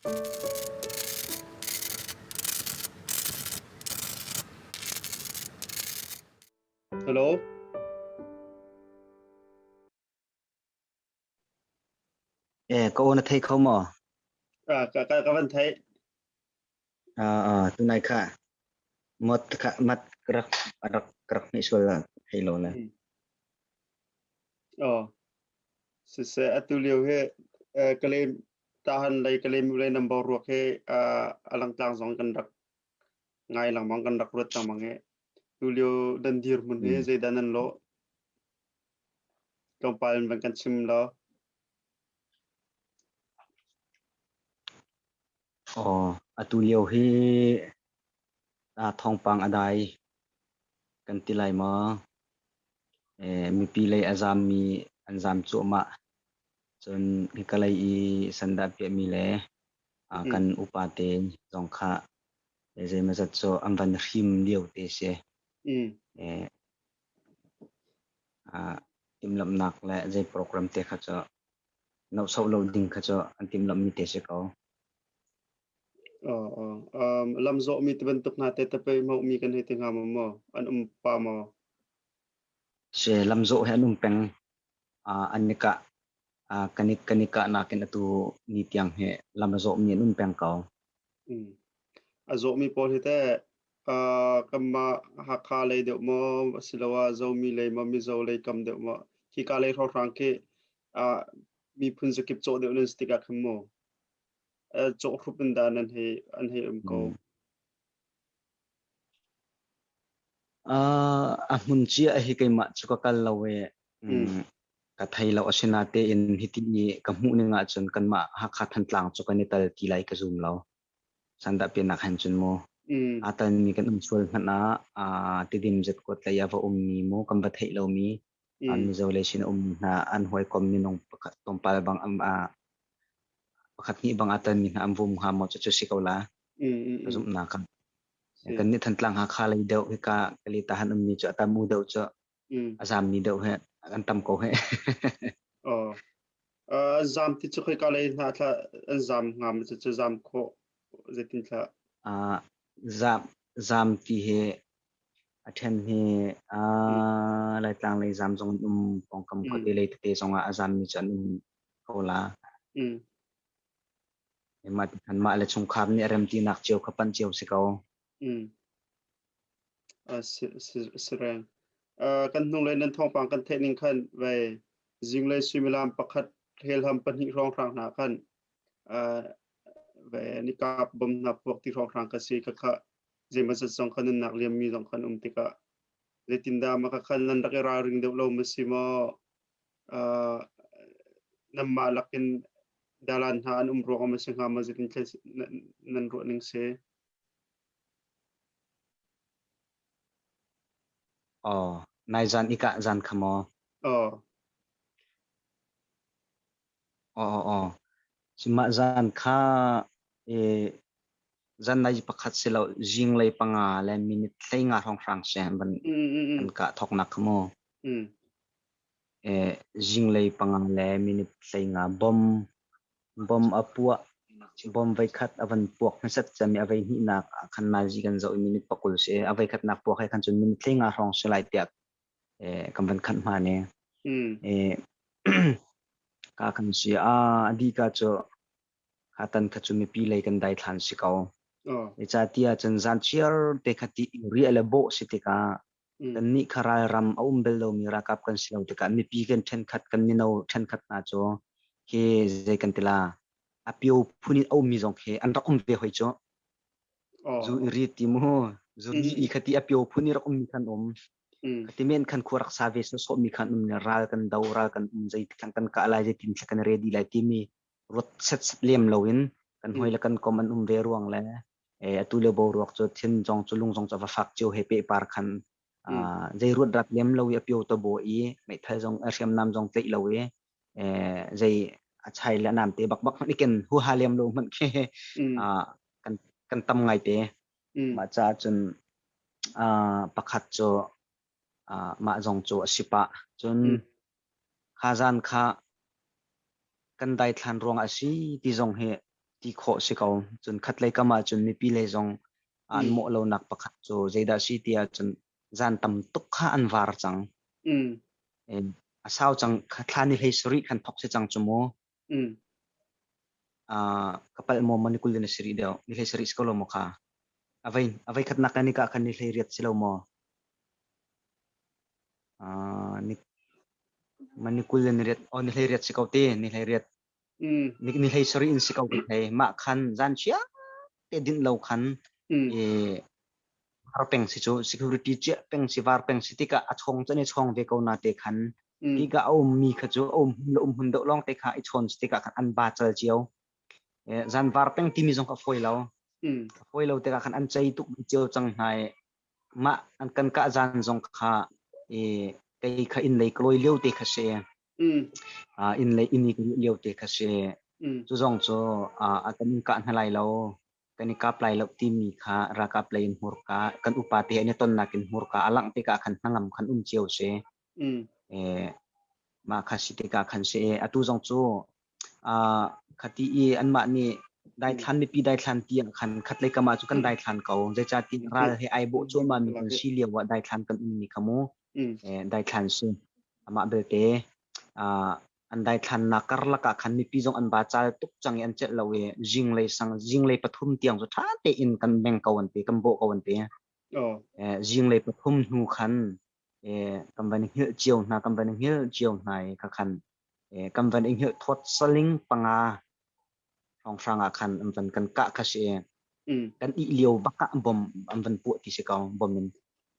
Hello. Eh, ka o na thei kho maw? À, ka ka ka van thấy. À, à, tu này kha mot kha mat rak rak rak ni sul la hei lo na. Ồ. Sẽ sẽ atu liu he ờ, claim Tahan lei ka lemule nam bo ruak he uh, alangtlang zong kan rak ngai langmang kan rak ruat tangmang he tulio dan dir mun he zeidan an lo tlawmpal van kan chim lo Oh, atu lio hi ah thawngpang a dai kan ti lai maw? Eh, mipi lei a zam mi an zam cuahmah. Cun ka lei i sandah piahmi le kan upa te zong kha zeimawzat cu an van hrim lio te si. Timhlamhnak le zei program te kha cu nohsoh lo ding kha cu an timhlamhmi te si ko. Lamzawhmi ti bantuk hna te te pei hmuhmi kan hei ti hnga maw? An um pa maw? Si, lamzawh he an um peng. an nikah kanik kanik ah nakin atu ni tiang hi lam a zawmi an um peng ko. A zawmi pawl hi teh kanmah Hakha lei deuh maw asiloah Zomi lei maw Mizo lei kam deuh maw hi ka lei hrohrang khi miphun zakip cawh deuh nan stik ah khan maw cawh hrup in da nan hei an hei um ko. Uh, a hmun cia hi keimah cu ka kal lo e. Mm. Ka thei lo asina tein hiti ni ka hmuh ning ahcun kanmah Hakha Thantlang cu kan i tal ti lai ka zum lo. Sanda pinak hen cun mu. Mm. Atan mi kan um sual hmanh ah a tidim zet kuat lei a va um mi mu kan va theih lo mi Mizo lei sin um hna an hawikom minung pakhat tlawmpal bang am ah pakhat hnih bang ah tonmi hna an vum hnga maw cucu si ko la ka zumhnak ah. Kan nih Thantlang Hakha lei deuh hika Kalita han ummi cu a tam u deuh cu a zammi deuh he an tam ko he. Oh. Uh, zam ti cu khoi ka lei hna thla an zam hnga ma cucu zam khawh zeitin thla? Uh, zam zam ti he A ṭhen hi uh, Laitlang lei zam zong an um, pawngkam mm. khuate lei tete zong ah a zammi cu an um ko la. Mm. Mah tikan mah le chungkhar nih remtinak cio kha panh cio si ko. Mm. Uh, si, si, si reng. Uh, kan hnung le nan thawngpang kan thening khan ve zing le suimilam pakhat helham pahnih rong rang hna khan uh, ve nikap bom na puak ti rong rang ka si ka kha zeihmanhsat zong kha nan nak liammi zong kha an um tikah zeitindah maka khan nan rak i ralring deuh lo ma si maw uh, nanmah lakin dalan hna an um ruang ma si hnga ma zitin nan ruah ning se oh nai zan ika zan khamo oh Aw, mah zan kha zanlei pakhat si lo zinglei panga le minute hleinga hrawnghrang si an van kah thawknak kha mu. Zinglei panga le minute hleinga bom a puah, bom veikhat a van puak hmasat cami a veihnih nak khan nazi kan zoh i minute pakul si. A veikhat nak puak he khan cun minute hleinga hrawng si lai tiah kan van khanh hma ne. Ka kan si a adi ka cu ka tan kha cu mipi lei kan dai than si ko. E ca tia cun zan chiar te kha ti ri ale bo si tika. Kan nih kha ral ram a um bel lomi rakap kan si lo tika. Mipi kan then khat kan mino then khat hna cu ke zei kan tila a pio phun in aumi zong ke an rak um ve hoi cu. Zu i rit ti maw? Zu i khati a pio phun i rak ummi khan um. Khati men khan khua rak sa ve sawsawhmi khan um ne ral kan do ral kan um zei tlang kan kah lai zei tin tla kan re di lai timi ruat set lem loin kan hoi le kan kom an um ve ruang le atu le bo ruak cu thin zong cu lung zong cu va fak cio he pe par khan zei ruat rak lem lo i a pio to bo i meithal zong a hriam nam zong tlaih lo i zei a chai le nam te bakbak hmanh iken huha lem lo hmanh khi kan kan tam ngai te mah ca cun pakhat cu mah zong cu a si pah cun kha zan kha kan dai thlan ruang a si ti zong hi ti khawh si ko cun khatlei kam ah cun mipi lei zong an mawh lonak pakhat cu zeidah si tiah cun zan tam tuk kha an var cang. Mm. Eh, a sau cang thla ni hlei sarih khan thok se cang cu mu. Mm. Uh, kapal mo man kul na siri deo ni hlei sarih skolo mo kha. Avai avai khat nak ni ka khan ni hlei riat silo mo. Uh, ni man kul ni riat o ni hlei riat si ko ti ni hlei riat Ni hlei sarih in si ko ka thei. Mah khan zan chia te dinh lo khan har peng si cu security chiah peng si var peng si tikah a chong cun i chong ve ko na te khan tika a um mi kha cu a um le um hun deuh lawng te kha i chon si tikah khan an ba chal cio zan var peng timi zong ka foi lo foi lo tikah khan an chei tuk cio cang hnai Mah an kan kah zan zong kha kei kha innlei ka lawi lio te kha si. Innlei inn i ka luh lio te kha si. Cu zong cu a kan in kah hna lai lo. Kan i kap lai lo timi kha ralkap lei in hmurka kan upate he an i tonnak in hmurka a langh tikah khan hnangam khan um cio si. mah kha si tikah khan si atu zong cu khati i anmah nih daithlan mipi daithlan tiang khan khatlei kamah cu kan daithlan ko zeica tin ral he ai bawh cuahmah mi kan si lio ah daithlan kan ummi kha mu daithlan si amah belte an daithlannak karlak ah khan mipi zong an bacal tuk cang i an celh lo i zinglei sang zinglei pathum tiang cu ṭha tein kan meng ko an te kan bawh ko an te zinglei pathum hnu khan kan van i hngilh cio hna kan van i hngilh cio hna i ka khan kan van i hngilh thawt saling panga hrawnghrang ah khan an van kan kah kha si kan ih lio bak ah bom an van puah ti si ko bom in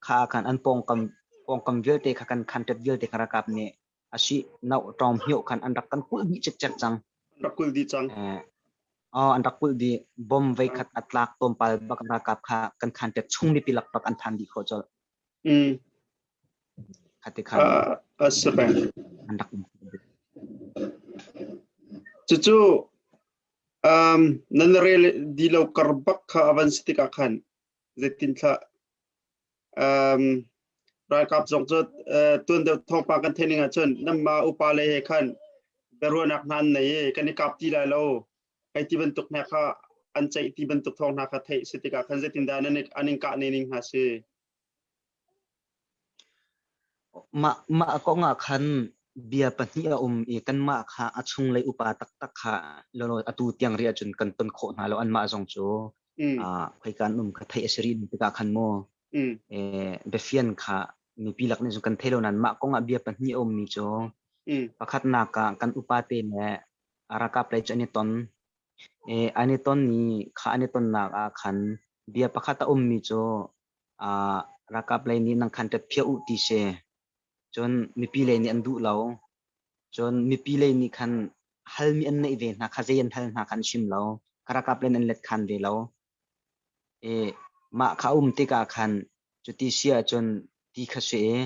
kha khan an pawngkam pawngkam vialte kha kan khan tet vialte kha rakap nih asi no tawm hio khan an rak kan kul di chek chek cang rak kul di cang oh an rak kul di bom vei khat atlak tom pal bak rakap kha kan khan tet chung ni pilak bak an phan di kho chol a si peng. Cucu nan rel di lo kar bak kha avan si tikah khan zeitin thlah ralkap zong cu tuan deuh thawngpa kan theih ning ahcun nama upa le he khan biaruahnak hna an nei i kan i kap ti lai lo Kei ti bantuk hna kha an ceih ti bantuk thawng hna kha theih a si tikah khan zeitindah an in kah ne ning hna si? Mah, mah kong ah khan bia pahnih a um i kanmah kha a chunglei upa taktak kha atu tiang ri ahcun kan ton khawh hna lo anmah zong cu khoi kan um kha theih a si rih tikah khan mu biafian kha nupi lak nih cun kan thei lo nain mah kong ah bia pahnih a ummi cu pakhatnak ah kan upate le Ralkap lei cu an i ton. Eh, an i ton ni, kha an i tonnak ah khan bia pakhat a ummi cu ah ralkap lei nih nan khan ṭet phia u ti si. Cun mipi lei nih an duh lo. Cun mipi lei nih khan halmi an neih ve hna kha zei an hal hna kha an chim lo. Ka ralkap lei in an let khan ve lo. I mah kha a um tikah khan cuti si ahcun ti kha si i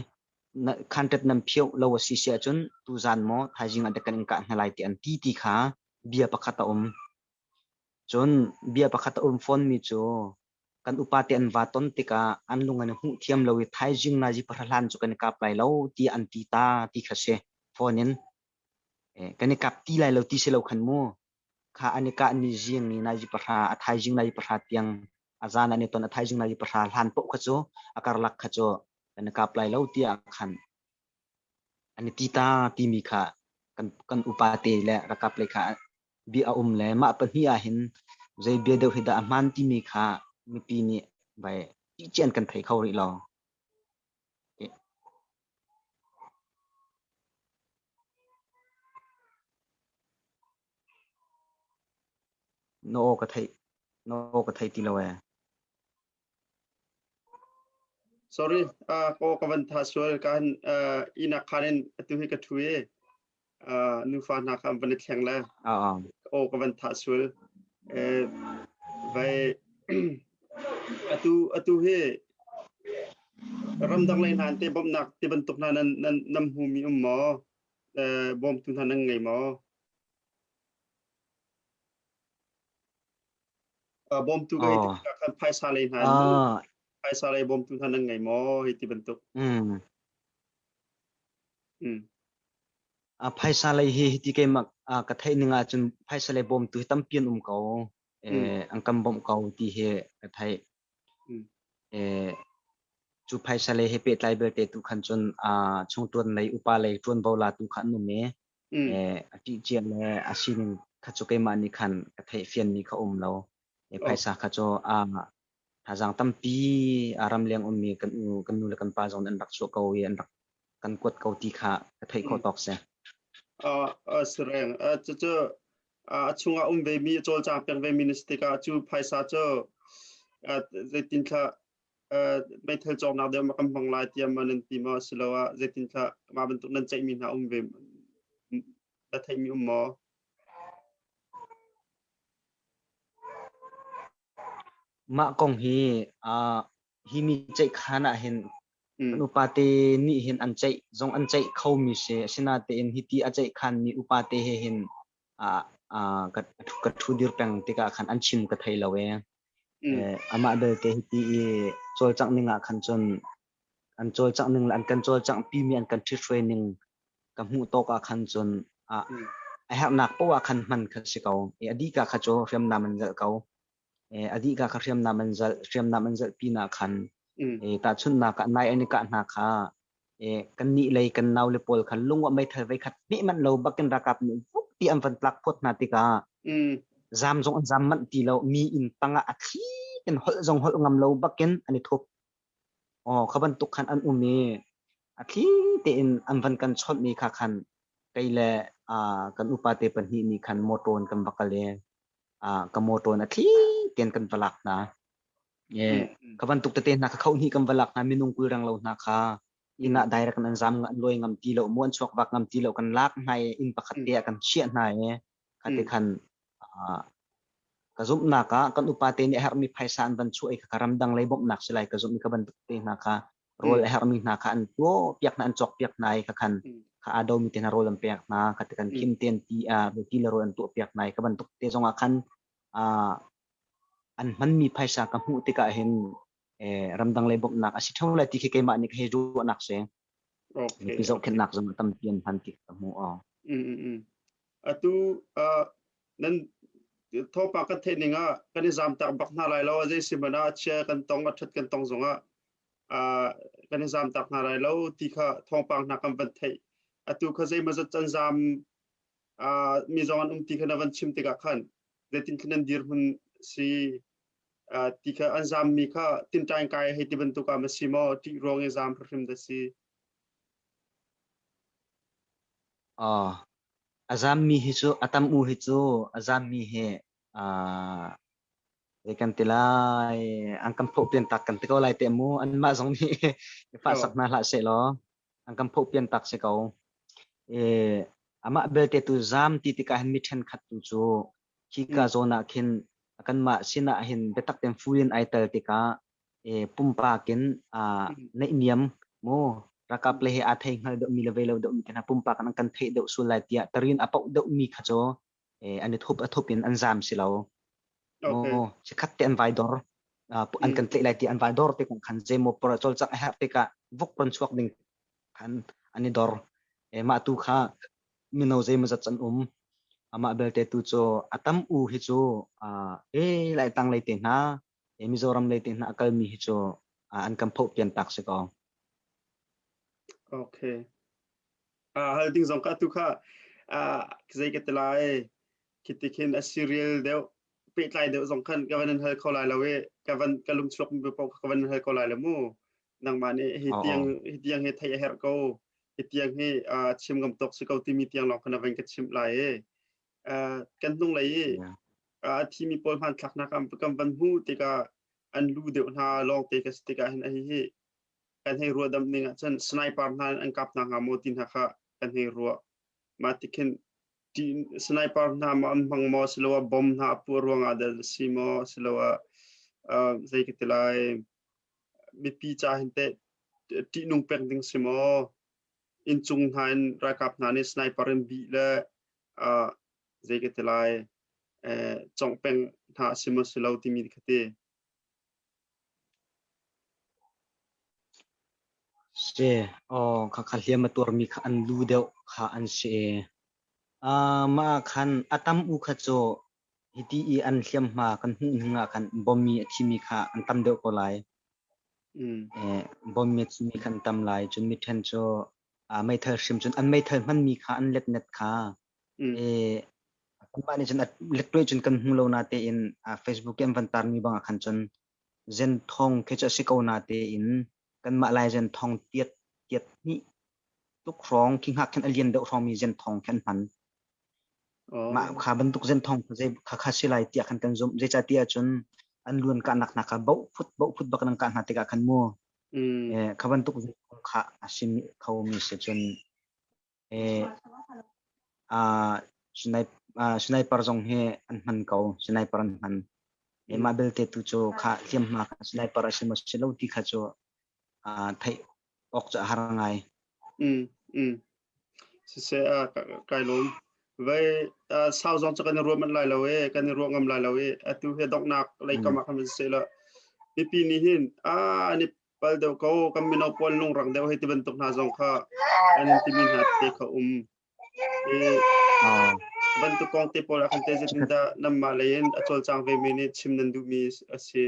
khanṭet nan phioh lo a si si ahcun tuzan maw thaizing ah dek kan in kah hna lai ti an ti ti kha bia pakhat a um. Cun bia pakhat a um fawnmi cu kan upate an va ton tikah an lung an i hmuh thiam lo i thaizing na zipahrahlan cu kan i kap lai lo ti an ti ta ti kha si fawn in kan i kap ti lai lo ti si lo khan mu. kha an i kahmi zingi nai zi pahra, a thaizing nai zi pahra tiang, a zan an i ton, a thaizing nai zi pahra hlan poh kha cu a karlak kha cu kan i kap lai lo tiah a khan. An i ti ta timi kha kan, kan upate le rakap lei kha bia a um le mah pahnih ahhin zei bia deuh hi dah a hmaan timi kha mipi nih vai ṭihcian kan thei kho rih lo. nih na aw ka theih ti lo ee. Sorry, ka kan tha sual kan ina khanin atu hi ka thu ee. nufa hna kha an van i thleng le aw ka van thah sual vai atu atu hi ramdang lei hna te bawmhnak ti bantuk hna nan nan nam hmu mi um maw bawmtu hna nan ngei maw bawmtu ga hi kan phaisa lei hna phaisa lei bawmtu hna nan ngei maw hi ti bantuk Phaisa lei hi hiti keimah ka theih ning ahcun phaisa lei bawmtu hi tampi an um ko. An kan bawmh ko ti hi ka theih. Cu phaisa lei he pehtlai vialte tu khan cun chungṭuan lei upa lei ṭuanvo la tu kha an um i a ṭihciah le a sining kha cu keimah nih khan ka theih fianmi kha a um lo. Phaisa kha cu Thazaang tampi a ramleng ummi kan u, kan nu le kan pa zong an rak chuah ko i an rak kan kuat ko ti kha ka theih khawh tawk si. Uh, uh, Sireng, uh, cucu uh, a chungah um vemi cawlcang peng vemi na si tikah cu phaisa cu uh, zeitin thla uh, meithal cawknak deuh ma kan hmang lai tiah ma nan ti maw si lo ah zeitin thla mah bantuk nan ceihmi hna um ve na theimi um maw? Mah kong hi ah hi mi ceihkhan ah hin kan upate nih hin an ceih zong an ceih khomi si asinatein hi ti a ceihkhanmi upate he hin ah ah ka ka ṭhu dir peng tikah khan an chim ka thei lo ee. Amah belte hi ti i cawlcangh ning ah khan cun An cawlcangh ning le an kan cawlcanghpimi an kan ṭhithruai ning ka hmuh tawk ah khan cun ah a herhnak paoh ah khan hman kha si ko. I a dih ka kha cu hriamnam in zelh ko. I a dih ka kha hriamnam in zelh, hriamnam in zelh pinah khan i tahchunhnak ah nai an i kah hna kha i kannih lei kan naule pawl kha lungah meithal veikhat hmeh manh lo bakin ralkap nih vukti an van tlak phawt hna tikah zaam zong an zaam manh ti lo. Mi inn tangah a thli in holh zong holh ngam lo bakin an i thup. Aw, kha bantuk khan an um i a thli tein an van kan chawnhmi kha khan kei le uh, kan upate pahnih nih khan motor in kan va kal i uh, ka motor in a thli tein kan va lak hna. Yeah. Ka bantuk tete hna ka khohni kan va lak hna minung kul rang lo hna kha inn ah direct an zam an loi ngam ti lo mu an chuak vak ngam ti lo kan lak hna i inn pakhat te ah kan chiah hna i ka ti khan uh, ka zumhnak ah kan upate nih a herhmi phaisa an van chuah i ka ramdang lei bawmhnak si lai ka zumh ka bantuk te hna kha rawl a herhmi hna kha an tuo piak hna an cawk piak hna i ka khan ka ado mi te hna rawl an pek hna ka ti kan kim ten ti a ti le rawl an tuo piak hna i ka bantuk te zongah khan uh, an hmanmi phaisa ka hmuh tikah hin ramdang lei bawmhnak a si ṭheo lai ti khi keimah nih ka hei ruahnak si. Mipi zohkhenhnak zong a tampi an hman ti ka hmuh. Atu nan thopa kan theih ning ah kan i zamtak bak hna lai lo zei si mana chia kan tong a ṭhat kan tong zong ah kan i zamtak hna lai lo ti kha thawngpang hna kan van theih atu kha zeimazat can zam mi zong an um ti kha na van chim tikah khan zeitin khi nan dir hun si ti kha an zammi kha tinṭaing kai hei ti bantuk ah ma si maw ṭih ruang i zam hrim da si. Oh, a zammi hi cu a tam u hi cu a zammi hi uh, zei kan ti lai an kan phoh pian tak kan ti ko lai te mu an mah zong nih fa sak hna hlah se law an kan phoh pian tak se ko e amah belte tu zam ti tika han mi ṭhen khat tu cu Hika zawn ah khin kanmah sinah hin biatak tein fu in ai tel tikah pumpak in neihniam maw ralkap le he aa thei hngal deuhmi le vei lo deuhmi te hna pumpak nan kan theih deuh sual lai tiah tarin a poh deuhmi kha cu an i thup a thup in an zaam si lo. Maw chikhat te an vai dor an kan tleh lai ti an vai dor te kong khan zeimaw pora colcak a herh tikah vuk pon chuak ding khan an i dor. Mah tu kha mino zeimawzat an um. Amah belte tu cu a tam u hi cu uh, e lai tang lei te hna e Mizoram lei te hna a kalmi hi cu uh, an kan phoh pian tak si ko. Okay. Ah hal ding zong ka tu kha ah zei ka te lai kiti khin a serial deu pehtlai deu zong khan ka van hal kho lai lo e ka van ka lung chuak mi pa ka van hal kho lai le mu nangmah nih hi tiang hi tiang hi theih a herh ko hi tiang hi chim ngam tawk si ko timi tiang lawng khana van ka chimp lai e kan hnung lei i a thimi pawl hman thlak hna kam kam van hmu tika an lu deuh hna long te ka stika hin hi hi kan hei rua dam ning ah cun sniper hna an kap na nga mo ti hna kha kan hei rua ma tikhin ti sniper hna ma am hmang mo siloa bomb hna pu ruang ada si mo siloa zei ka tilai mipi ca hin teh ṭihnung pek ding si maw? Inncung hna in ralkap hna nih sniper in bih le zei ka ti lai congh peng hna si maw si lo timi kha ti. Si, aw kha kha hliam a tuarmi kha an lu deuh kha an si. Mah ah khan a tam u kha cu Hiti i an hliamhma kan hmuh hnuah khan bommi a thimi kha an tam deuh ko lai. Bommi a thimi kha an tam lai. Cun miṭhen cu meithal hrim cun an meithal hmanmi kha an letnet kha kum ah nih cun a lettuai cun kan hmu lo natein Facebook i an van taarmi bangah khan cun zen thawng khi cu a si ko natein Kanmah Lai Zenthong tiat tiat hnih tuk hrawng khi hngak khin a lian deuh hrawngmi zenthong khi an hman. Mah kha bantuk zenthong khakha si lai tiah khan kan zumh. Zeicatiah cun an luan kahnak hna kha boh phut boh phut bak nan kah hna tikah khan mu. Kha bantuk zenthong kha a si khomi si cun Sniper zong hi an hman ko. Sniper an hman. Mah belte tu cu khah hliamhma sniper a si maw si lo ti kha cu theih awk cu a har ngai. Siseh kai lawm. Vai sau zong cu kan i ruah manh lai lo e, kan i ruah ngam lai lo e. Atu hi donghnak lei kam ah khan seh law mipi nih hin an i Pal deuh ko kan mino pawl lungrang deuh hei ti bantuk hna zong kha an in timi hna te kha um. I bantuk kong te pawl ah khan te zetin dah nanmah lei in a cawlcang vemi nih chim nan duhmi a si.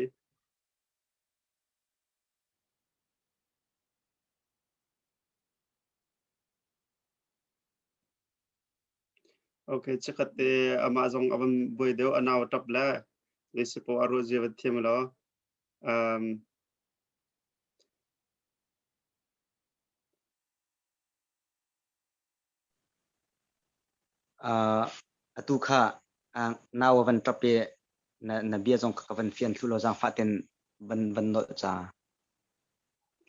Okay, chikat te amah zong a van buai deuh anau tap le. Nei si po a ruah zia van thiam lo. Um, uh, atu kha uh, nawa van tape na na bia zong ka van fian thlu lo zang fa ten van van nol cha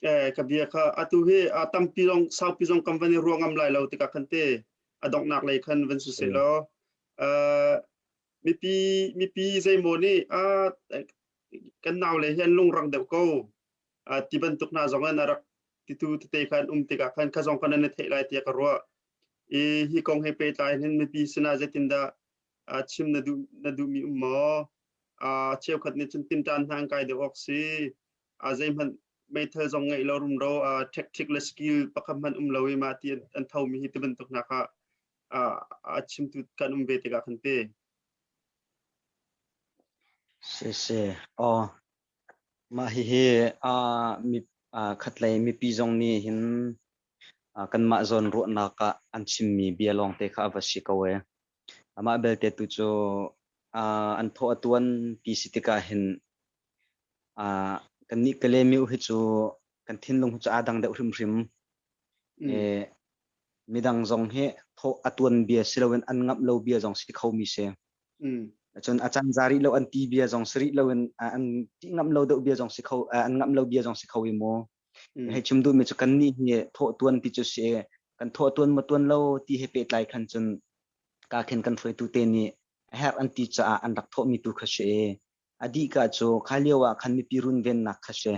eh ka bia kha atu he a tampi zong saupi zong kam van ruangam lai lo tika khante adok nak lei khan van su se lo uh mipi mipi zeimaw nih kan naule hi an lungrang deuh ko ti bantuk hna zong an rak titu tete kha an um tikah khan ka zong khan an i theih lai tiah ka ruah i hi kong he pehtlai hin mipi sinah zeitindah chim na duh na duhmi um maw cheukhat nih cun tinṭan hna an kai deuh awk si zeihmanh meithal zong ngeih lo rumro ṭhekṭhik le skill pakhat hmanh um lo i mah ti an thomi hi ti bantuk hna kha a chimtu kan um ve tikah kan ti. Si si. Oh. Mah hihi khatlei mipi zong nih hin kanmah zawn ruahnak ah an chimmi bia lawng te kha a va si ko e. Amah belte tu cu an thaw a tuan ti si tikah hin Ah kannih Kale miu hi cu kan thinlung hi cu aa dang deuh hrimhrim. Mm. Eh, midang zong hi thawh a tuan bia si loin an ngamh lo bia zong si ti khomi si. Mm. Cun a can za rih lo an ti bia zong si rih loin ah, an ti ngamh lo deuh bia zong si kho ah, an ngamh lo bia zong si kho i mu. Mm. Hei chim duhmi cu kannih hi thawh tuan ti cu si kan thawh tuan maw tuan lo ti he pehtlai khan cun ka khin kan hruaitu te nih a herh an ti caah an rak thawhmi tu kha si i A dihka cu kha lio ah khan mipi runvennak kha si.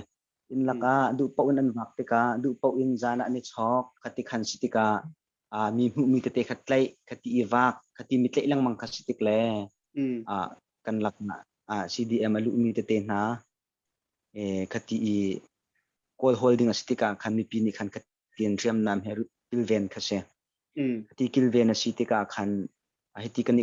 Inn lakah duh paoh in an vak tikah duh paoh in zan ah an i chawk khati khan si tikah ah mi hmuhmi tete kha tlaih khati i vak khati mi tlaih lengmang kha si tik le ah kan laknak ah CDM a luhmi tete hna khati i kawl hawl ding a si tikah khan mipi nih khan tiin hriamnam he kilven kha si. Hiti kilven a si tikah khan hiti kan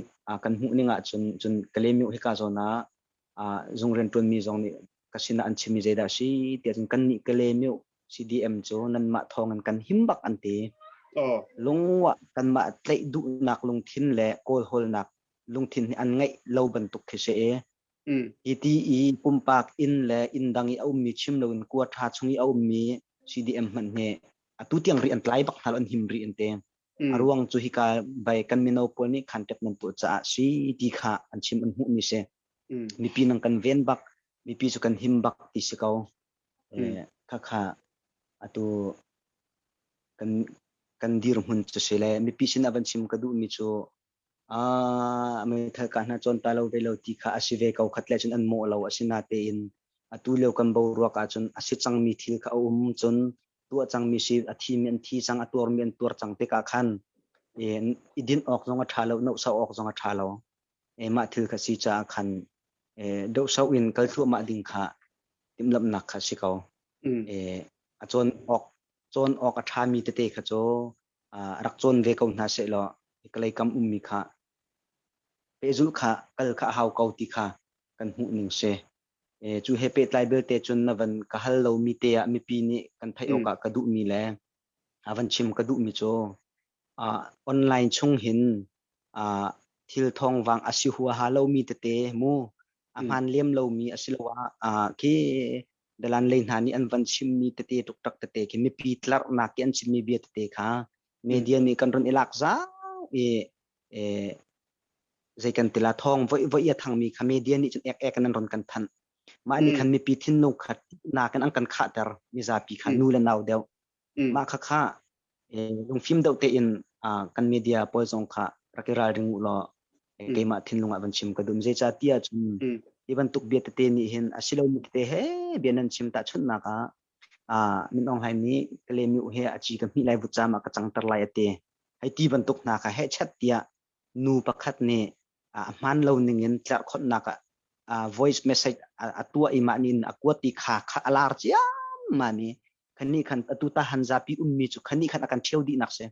kan hmuh ning ahcun cun Kalemiu hika zawn ah zung rian ṭuanmi zong nih ka sinah an chimmi zeidah a si tiah cun kannih Kalemiu CDM cu nanmah thawng in kan him bak an ti. Lungwah kanmah tlaih duhnak lungthin le kawlhawlnak lungthin hi an ngeih lo bantuk khi si i Hiti i pumpak inn le inn dang i a ummi chim loin kua ṭha chung i a ummi CDM hmanh hi atu tiang ri an tlai bak hna lo, an him rih an ti. A ruang cu hika bei kan mino pawl nih khanṭep nan tuah caah si ti kha an chim an hmuhmi si. Mipi nang kan ven bak, mipi cu kan him bak ti si ko. Khakha atu kan kan dirhmun cu si le mipi sin a van chim ka duhmi cu ah meithal ka hna cawn ta lo ve lo ti kha a si ve ko khat le cun an mawh lo a si natein atu lio kan boruak ahcun a si cangmi thil kha a um cun tuah cangmi si a thimi an thi cang a tuarmi an tuar cang tikah khan i din awk zong a ṭha lo nohso awk zong a ṭha lo mah thil kha si caah khan dohso in kal thluahmah ding kha timhlamhnak kha si ko a cawn awk cawn awk a ṭhami tete kha cu rak cawn ve ko hna sehlaw hikalei kam ummi kha pehzulh kha kal kha a hau ko ti kha kan hmuhning si. Cu he pehtlai belte cun na van ka hal lomi te ah mipi nih kan theih awkah ka duhmi le a van chim ka duhmi cu online chung hin thil thawngvang a si huaha lomi tete mu a hmaan lem lomi asiloah khi Dalanlei hna nih an van chimmi tete, tuktak tete khi mipi tlarhnak i an chimmi bia tete kha media nih kan run i lak zau i eh, zei kan tila thawng voihvoih a thangmi kha media nih cun ek ek in an ron kan thanh. Mah nih khan mipi thinlung khat nak in an kan khahter mizapi kha nu le nau deuh Mah khakha lungfim deuh tein kan media pawl zong kha rak i ralring u law keimah thinlung ah van chim ka duh. Zeicah ti ahcun hi bantuk bia tete nih hin a si lomi tete he bia nan chim tahchunhnak ah Min Aung Hlaing nih Kalemiu he a ci ka hmih lai vut caam ah ka cangter lai a ti. Hi ti bantuk hna kha heh chat tiah nu pakhat nih a hmaan lo ningin tlerhkhonhnak ah voice message a tuah i mah nin a kuat i kha kha a lar ciammam i khannih khan atu ta han zapi ummi cu khannih khan a kan ṭhio dihnak si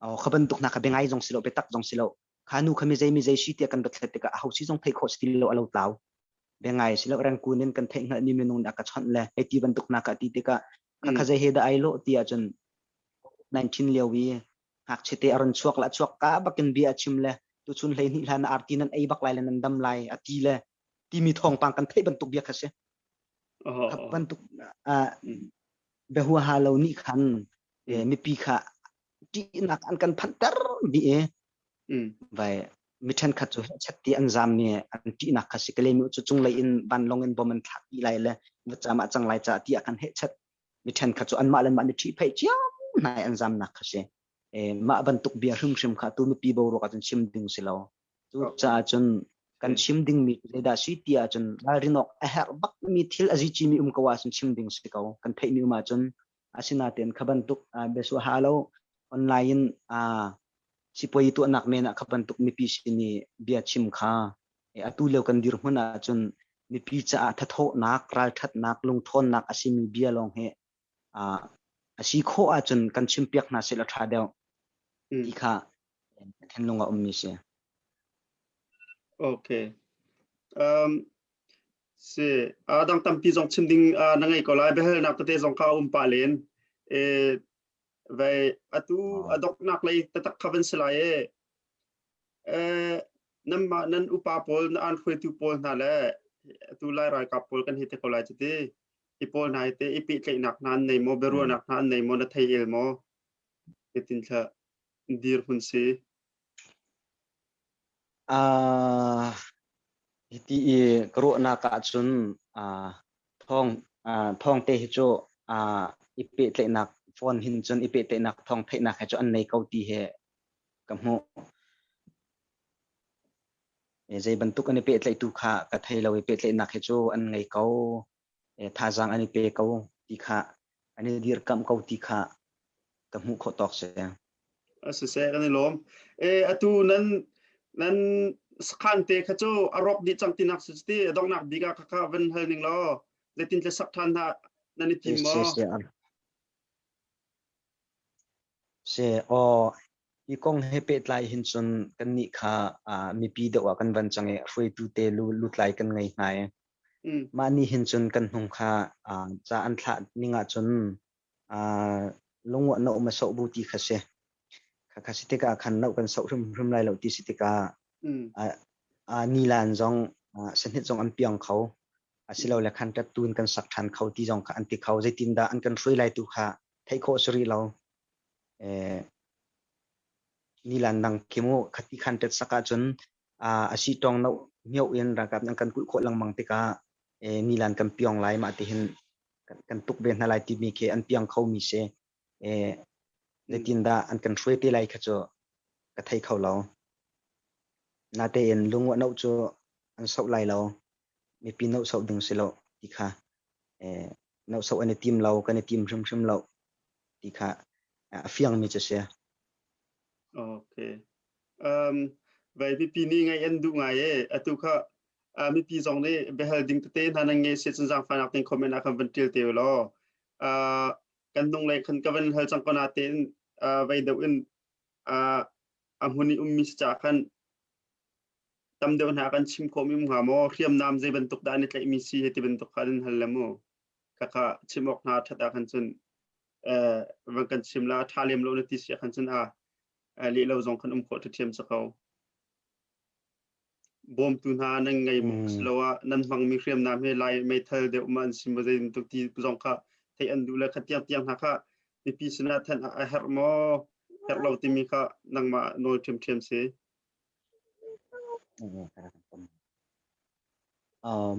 o kha bantuk hna kha biangai zong si lo biatak zong si lo kha nu kha mi zei mi zei si tiah kan batlet tikah a hosi zong thei kho si lo a lo tlau biangai si lo rangkun in kan theih hngalh ni minung aka chawnh le hei ti bantuk hna ka ti tikah ka kha zei he da ai lo ti ahcun 19 lio i ngakchiate a run chuak le a chuak ka bakin bia a chim le tuchun hleihnih hlan ah arti nan ei bak lai le nan dam lai a ti le timi thawngpang kan theih bantuk bia kha si ka bantuk behuaha lo nih khan mipi kha ṭihnak an kan phanter mi vai mi ṭhenkhat cu chat ti an zam mi an ṭihnak kha si kalemi cu cunglei in vanlong in bom an thlak i lai le va camah cang lai ca ti a kan he chat mi ṭhenkhat cu anmah le anmah nih ṭhihpheih cio hna i an zamnak kha si. mah bantuk bia hrimhrim kha tu mipi boruak ah cun chim ding si lo. Cucaah cun kan chim dingmi zeidah si ti ahcun ralrinawk a herh bakmi thil a zicimi um ko ahcun chim ding si ko. Kan theihmi um ahcun asinain kha bantuk biasuah ha lo online in sipuai tuahnak men ah kha bantuk mipi sin i bia chim kha Atu lio kan dir hmun ahcun mipi caah thathawhnak, ralthatnak, lungthawnnak a simi bia lawng hi a si khawh ahcun kan chimpiak hna seh law tha deuh ti kha ka thinlung a ummi si. Okay. Um, si uh, dang tampi zong chim ding uh, na ngei ko lai behel nak tete zong ka um pa len e vai atu adok nak lei tatak khaven silai e nanmah nan upa pawl na an hruaitu pawl hna le atu lai ralkap pawl kan hi te ko lai cu ti i pawl hna hi te i pehtlaihnak hna an nei maw biaruahnak hna an nei maw na thei el maw titin thla dir hun si uh, hiti i ka ruahnak ahcun uh, thong uh, thong te hi cu uh, i pehtlaihnak phone hin cun i pehtlaihnak thong theihnak he cu an nei ko ti he ka hmuh. Zei bantuk an i pehtlaihtu kha ka thei lo i pehtlaihnak hi cu an ngei ko. Thazaang an i pe ko ti kha an i dirkamh ko ti kha ka hmuh khawh tawk si. Siseh kan i lawm. Atu nan nan sakhan te kha cu a rawk dih cang tinak si ti donghnak bik ah kha van hal ning law zeitin tle sak ṭhan dah nan i tim maw? Seh aw, hi kong he pehtlai hin cun kannih kha uh, mipi deuh ah kan van cang i hruaitu te lu, lutlai kan ngei hna i mm. mah nih hin cun kan hnung kha uh, ca an thlah ning ah cun uh, lunguah no ma soh bu ti kha si kha kha si tikah khan no kan soh hrim hrim lai lo ti si tikah mm. uh, uh, nilan zong uh, sanit zong an piang kho asilo le khan tat tuin kan sak ṭhan kho ti zong kha an ti kho zeitindah an kan hruai lai tu kha theih khawh a si rih lo. Eh, nilan nang kimu khati khan tet sak ahcun uh, asi tong no mio in ragap nang kan kul kho langmang tikah eh, nilan kan piong lai ma ti hin kan, kan tuk ve hna lai ti mi ke an piang kho mi se eh, nitin da an kan hruai te lai kha cu ka thei kho lo. Nate in lungu no cu an sau lai lo. mipi nohsoh ding si lo ti kha eh, nohsoh an i tim lo kan i tim hrimhrim lo ti kha a fiangmi cu si okay um vai pipi ni ngai an du ngai e atu kha mipi zong nih behal ding tete hna nan nge se chan jang fanak ting comment a kan van til te lo kan nung le khan ka van hal chang kona te in vai deu in a hmuni ummi si cha khan tam deuh hna kan chim khawm im hnga maw hriamnam zei bantuk dah ni tlaihmi si hi ti bantuk kha nan hal le mu khakha chim awk hna that ah khan cun van kan chim la tha lem lo na ti sia khan cun a le lo zong kan um khawh ṭhathiam sa ko bawmtu hna nan ngei mu silo a nan hmangmi hriamnam he lai meithal deuh ma an sim zei bantuk ti zong kha thei an duh le kha tiang tiang hna kha mipi sinah than a herh maw herh lo timi kha nangmah nawl ṭhiam ṭhiam si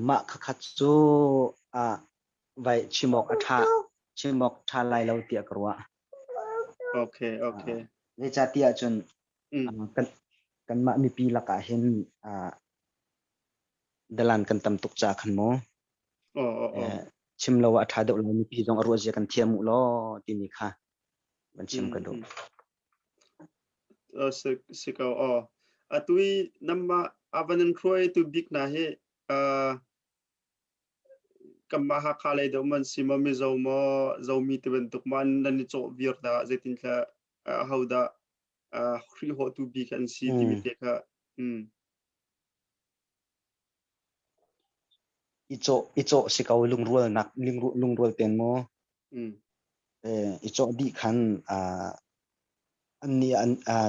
Mah khakhat cu chimawk a ṭha. Chimawk ṭha lai lo tiah ka ruah. Zeicahtiah cun kanmah mipi lakah hin dalan kan tam tuk caah khan maw chim lo a ṭha deuh lai. Mipi zong a ruahzia kan thiam u law timi kha van chim ka duh. si ko aw. Atu i nanmah a van in hruaitu bik hna hi kanmah Hakha lei deuh man si maw Mizo maw Zomi ti bantuk ma nan i cawh vir dah zeitin tla ho dah hri hawtu bik an si timi te kha. I cawh si ko lungrual te maw? I cawh dih khan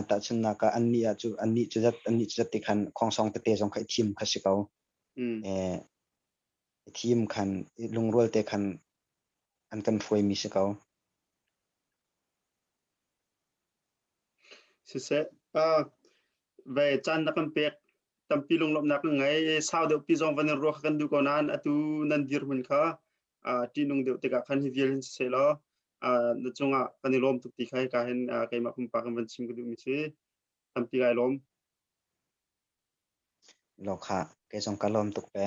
tahchunhnak ah annih cu zat ti khan khongsong tete zong kha i thim kha si ko. I thim khan lungrual te khan an kan hruaimi si ko. Siseh, ve caan na kan pek tampi lunglawmhnak kan ngei. Sau deuhpi zong van in ruah kha kan duh ko nain atu nan dir hun kha ṭihnung deuh tikah khan hi vial hin siseh law na cungah kan i lawm tuk ti kha hika hin keimah pumpak in van chim ka duhmi si. Tampi kai lawm. Lokha, kei zong ka lawm tuk ve.